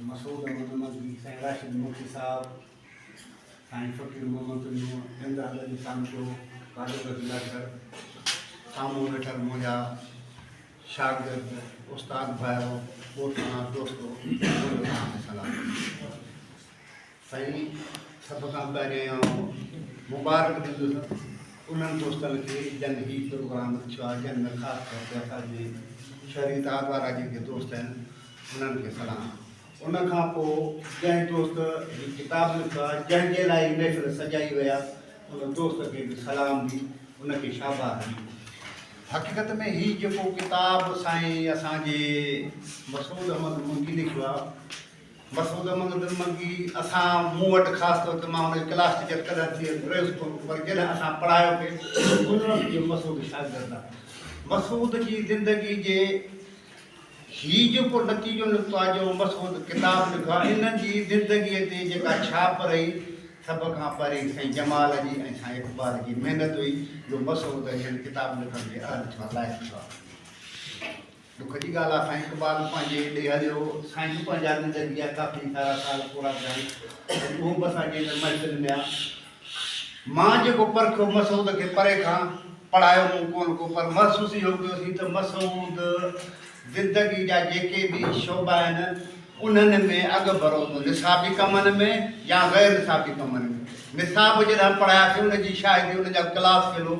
مسعود احمد مدني، سائين راشد ملڪي صاحب، سائين فقير محمد پنهور، ٽنڊو حضرت جي سانچو، قادر بخش لاکر، سامهون ويٺل منهنجا شاگرد، استاد ڀائرو، ڳوٺاڻا دوستو، منهنجو تهان کي سلام. سائين سڀ کان پهرين آئون مبارڪ ڏيندس انهن دوستن کي جن هي پروگرام رکيو آهي جن ۾ خاص طور تي اسان جي شهري اتحاد وارا جيڪي دوست آهن انهن کي سلام ان کان پوء جنهن دوست هي ڪتاب لکيو آهي جنهن جي لاء هي محفل سجائي وئي آهي ان دوست کي به سلام ڏي ان کي شاباس ڏي حقيقت ۾ هي جيڪو ڪتاب سائين اسان جي مسعود احمد منگي لکيو آهي مسعود احمد نرمگي، اسان، مون وٽ خاص طور تي مان ان جي ڪلاس ٽيچر ڪڏهن ٿي رهيس ڪونه پر جڏهن اسان پڙهايو پي ان وقت اهي مسعود شاگرد آهن. مسعود جي زندگي جي هي جيڪو نتيجو نڪتو آهي جو مسعود ڪتاب لکيو آهي ان جي زندگي تي جيڪا ڇاپ رهي سڀ کان پهرين سائين جمال جي ۽ سائين اقبال جي محنت هئي جو مسعود هن ڪتاب لکڻ جي اهل ٿيو آهي لائق ٿيو آهي. ڏک جي ڳالهه آ سائين اقبال پنهنجي ڏي هليو سائين به پنهنجا زندگي جا ڪافي سارا سال پورا ڪيائين اهو به اسان جي هن محفل ۾ آ مان جيڪو پرکيو مسعود کي پري کان پڙهايو مون ڪون ڪو پر محسوس اهو ڪيو سين ته مسعود زندگي جا جيڪي به شعبا آهن انهن ۾ اڳ ڀرو هوندو نصابي ڪمن ۾ يا غير نصابي ڪمن ۾ نصاب جڏهن پڙهاياسين ان جي شاهدي ان جا ڪلاس فيلو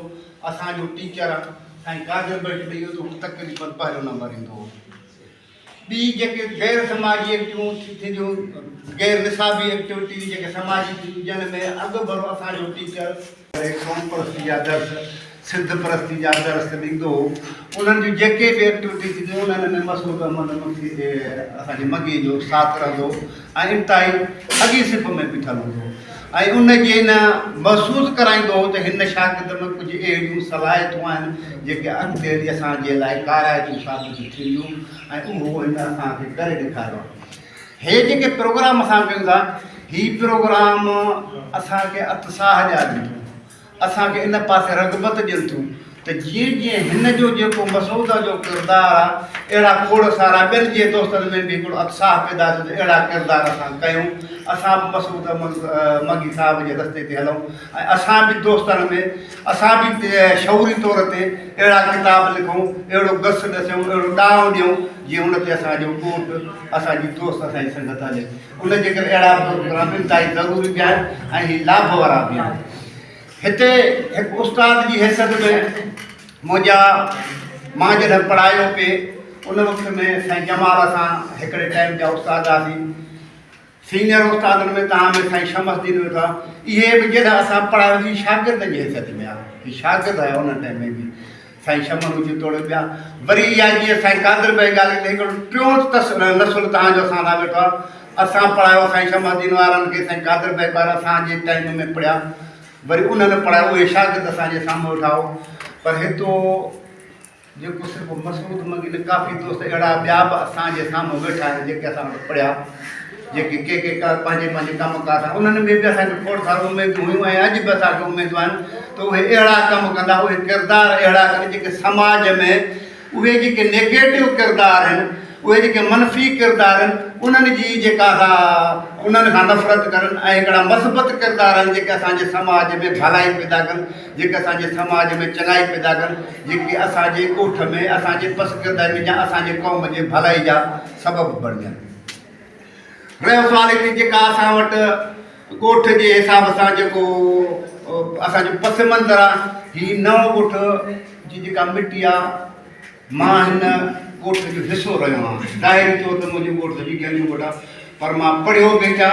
اسان جو ٽيچر سائين قادر بخش به اهو تقريبن پهريون نمبر ايندو هو ٻي جيڪي غير سماجي ايڪٽيون ٿينديون غير نصابي ايڪٽيوٽي جيڪي سماجي ٿينديون جن ۾ اڳ ڀرو اسان جو ٽيچر قوم پرستي جا درس سنڌ پرستي جا درس ڏيندو هو انهن جون جيڪي به ايڪٽيوٽي ٿينديون انهن ۾ مسعود احمد مکي اسان جي مگي جو ساٿ رهندو هو ۽ انتهائي اڳئين صف ۾ بيٺل هوندو هو ۽ ان کي نه محسوس ڪرائيندو هو ته هن شاگرد ۾ ڪجهه اهڙيون صلاحيتون آهن جيڪي اڳتي هلي اسان جي لاء ڪارائتون ثابت ٿينديون ۽ اهو هن اسان کي ڪري ڏيکاريو آهي هي جيڪي پروگرام اسان ڪيون ٿا هي پروگرام اسان کي اتساهه ڏيارين ٿيون اسان کي ان پاسي رغبت ڏين ٿيون ته جيئن جيئن هن جو جيڪو مسعوده جو ڪردار آ اهڙا کوڙ سارا ٻين جي دوستن ۾ به هڪڙو اتساهه پيدا ٿيو ته اهڙا ڪردار اسان ڪيون اسان به مسعوده مگي صاحب جي رستي تي هلون ۽ اسان به دوستن ۾ اسان به شعوري طور تي اهڙا ڪتاب لکون اهڙو گس ڏسيون اهڙو ڏانء ڏيون جيئن ان تي اسان جو ڳوٺ اسان جي دوست اسان جي سنگت هلي ان جي ڪري اهڙا پروگرام انتهائي ضروري به آهن ۽ هي لاڀ وارا به آهن هتي هڪ استاد جي حيثيت ۾ منهنجا مان جڏهن پڙهايو پي ان وقت ۾ سائين جمال اسان هڪڙي ٽائيم جا استاد هئاسين سينئر استادن ۾ تان ۾ سائين شمس الدين ويٺا اهي به جڏهن اسان پڙهايوسين شاگرد جي حيثيت ۾ آهي هي شاگرد آهيا ان ٽائيم ۾ به سائين شمن هجي توڙي ٻيا وري اها جيئن سائين قادر بيگ آلي تي هڪڙو ٽيون تس نسل تهان جو اسان سان ويٺو آ اسان پڙهايو سائين شمع الدين وارن کي سائين قادر بيگ وارا اسان جي ٽائيم ۾ پڙهيا وري انهن پڙهايو اهي شاگرد اسان جي سامهون ويٺا هو پر هتو جيڪو صرف مسعود منگي نه ڪافي دوست اهڙا ٻيا به اسان جي سامهون ويٺا آهن جيڪي اسان وٽ پڙهيا جيڪي ڪي ڪي ڪار پنهنجي پنهنجي ڪم ڪار سان انهن ۾ به اسان کي کوڙ سارو اميدون هيون ۽ اڄ به اسان کي اميدون آهن ته اهي اهڙا ڪم ڪندا اهي ڪردار اهڙا ڪن جيڪي سماج ۾ اهي جيڪي نيگيٽو ڪردار آهن اهي جيڪي منفي ڪردار آهن انهن جي جيڪا سا انهن کان نفرت ڪرن ۽ هڪڙا مثبت ڪردار آهن جيڪي اسان جي سماج ۾ ڀلائي پيدا ڪن جيڪي اسان جي سماج ۾ چڱائي پيدا ڪن جيڪي اسان جي ڳوٺ ۾ اسان جي پسگردائي ۾ جا اسان جي قوم جي ڀلائي جا سبب بڻجن رهيو سوال هتي جيڪا اسان وٽ ڳوٺ جي حساب سان جيڪو اسانجو پس منظر آ هي نئون ڳوٺ جي جيڪا مٽي آ مان هن ڳوٺ جو حصو رهيو آهيان ظاهري طور تي منهنجو ڳوٺ سڄي گينجو ڳوٺ آ پر مان پڙهيو به هتي آ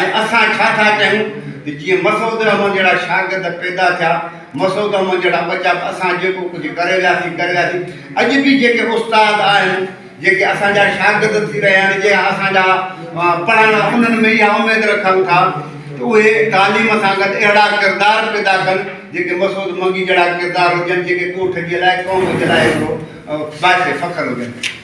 ۽ اسان ڇا ٿا چاهيون ته جيئن مسعود الرحمان جهڙا شاگرد پيدا ٿيا، مسعود الرحمان جهڙا ٻچا به اسان جيڪو ڪجهه ڪري وياسين ڪري وياسين، اڄ به جيڪي استاد آهن، جيڪي اسان جا شاگرد ٿي رهيا آهن، جيڪي اسان جا پڙهندڙ انهن ۾ اها اميد رکن ٿا ته اهي تعليم سان گڏ اهڙا ڪردار پيدا ڪن جيڪي مسعود منگي جهڙا ڪردار هجن، جيڪي ڳوٺ جي لاء قوم جي لاء هڪڙو باعث فخر هجن.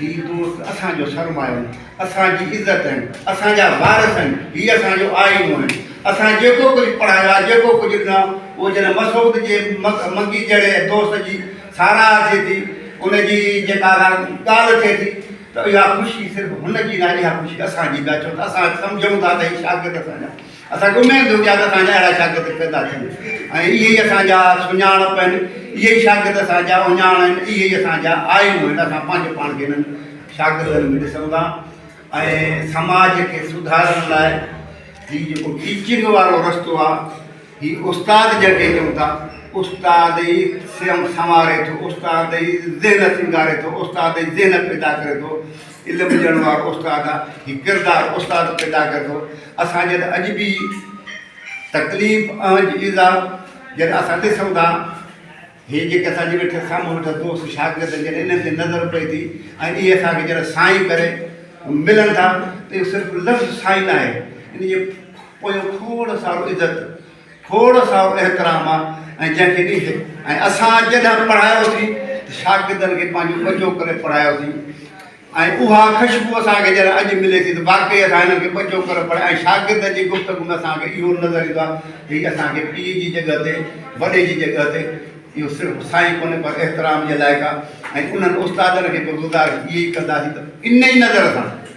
هي دوست اسان جو سرمايو آهن، اسان جي عزت آهن، اسان جا وارث آهن، هي اسان جو آئينو آهن. اسان جيڪو ڪجهه پڙهايو آهي، جيڪو ڪجهه ڏنو آهي، اهو جڏهن مسعود جي منگي جهڙي دوست جي ساراهه ٿئي ٿي، ان جي جيڪا ڳالهه ٿئي ٿي ته اها خوشي صرف هن جي ناهي، اها خوشي اسان جي به آهي، ڇو ته اسان سمجهون ٿا ته هي شاگرد اسان جا. اسان کي اميد هوندي آهي ته اسان جا اهڙا شاگرد پيدا ٿين ۽ اهي ئي اسان جا سڃاڻپ آهن، اهي ئي شاگرد اسان جا اهڃاڻ آهن، اهي ئي اسان جا آئينو آهن، اسان پنهنجو پاڻ کي انهن شاگردن ۾ ڏسون ٿا ۽ سماج کي سڌارڻ لاء هي جيڪو ٽيچنگ وارو رستو آهي، هي استاد جنهن کي چئون ٿا، استاد ئي سنواري ٿو، استاد ئي ذهن سينگاري ٿو، استاد ئي ذهن پيدا ڪري ٿو. علم ڏيڻ وارو استاد آ هي ڪردار استاد پيدا ڪري ٿو اسان جڏهن اڄ به تڪليف اهنج ايذاء جڏهن اسان ڏسون ٿا هي جيڪي اسان جي ويٺل سامهون ويٺل دوست شاگرد جڏهن انهن تي نظر پئي ٿي ۽ اهي اسان کي جڏهن سائين ڪري ملن ٿا ته اهو صرف لفظ سائين ناهي ان جي پويان کوڙ سارو عزت کوڙ سارو احترام آ ۽ جنهن کي ڏيهه ۽ اسان جڏهن پڙهايو سين ته شاگردن کي پنهنجو ٻچو ڪري پڙهايو سين ۽ اها کشبو اسان کي جڏهن اڄ ملي ٿي ته واقعي اسان هنن کي ٻچو ڪري پڙهايو ۽ شاگردن جي گفتگو ۾ اسان کي اهو نظر ايندو آ ته هي اسان کي پيء جي جڳهه تي وڏي جي جڳهه تي اهو صرف سائين ڪونهي پر احترام جي لائق آ ۽ انهن استادن کي به گذارش اهي ئي ڪنداسين ته انهي نظر سان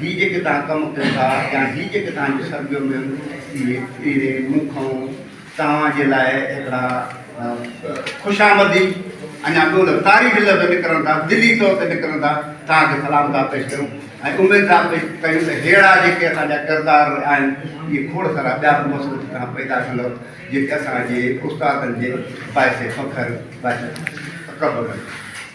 هي جيڪي توهان ڪم ڪيو ٿا يا هي جيڪي توهان جي سرگيو ۾ اهي مون کانئون توهان جي لاء هڪڙا خوش آمدي اڃا ٻيو لفظ تعريفي لفظ نڪرن ٿا دلي طور تي نڪرن ٿا توهان کي سلام ٿا پيش ڪيون ۽ اميد ٿا پيش ڪيون ته ههڙا جيڪي اسان جا ڪردار آهن اهي کوڙ سارا ٻيا به مصروف توهان پيدا ڪندؤ جيڪي اسان جي استادن جي باعث فخر باعث تڪبر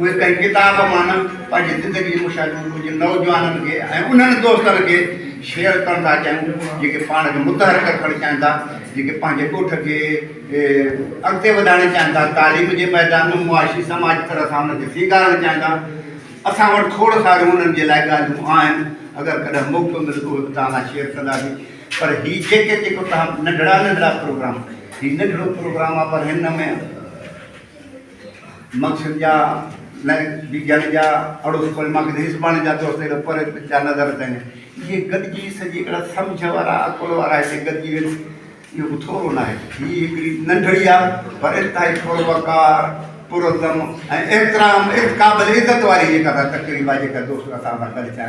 اهي ڪنهن ڪتاب مان نه پنهنجي زندگي مشاهدو ڪجهه نوجوانن کي ۽ انهن دوستن کي شيئر ڪرڻ ٿا چاهيون جيڪي پاڻ کي متحرڪ رکڻ چاهين ٿا جيڪي پنهنجي ڳوٺ کي اڳتي وڌائڻ چاهين ٿا تعليم جي ميدان ۾ معاشي سماجي طرح سان ان کي سينگارڻ چاهين ٿا اسان وٽ کوڙ ساريون انهن جي لاء ڳالهيون آهن اگر ڪڏهن موقعو ملندو اهي به توهان سان شيئر ڪنداسين پر هي جيڪي جيڪو توهان ننڍڙا ننڍڙا پروگرام هي ننڍڙو پروگرام آهي پر هن ۾ مقصد جا نه بي جاڻي جا اڙوس پڙوس مانکي نه سڀاڻي جا دوست اهڙو پري جا نظر اچن اهي گڏجي سڄي اهڙا سمجهه وارا عقل وارا هتي گڏجي وين اهو به ٿورو ناهي هي هڪڙي ننڍڙي آ پر انتهائي پر وقار پر عزم ۽ احترام قابل عزت واري جيڪا تقريب آ جيڪا دوست اسان سان گڏ ٿيا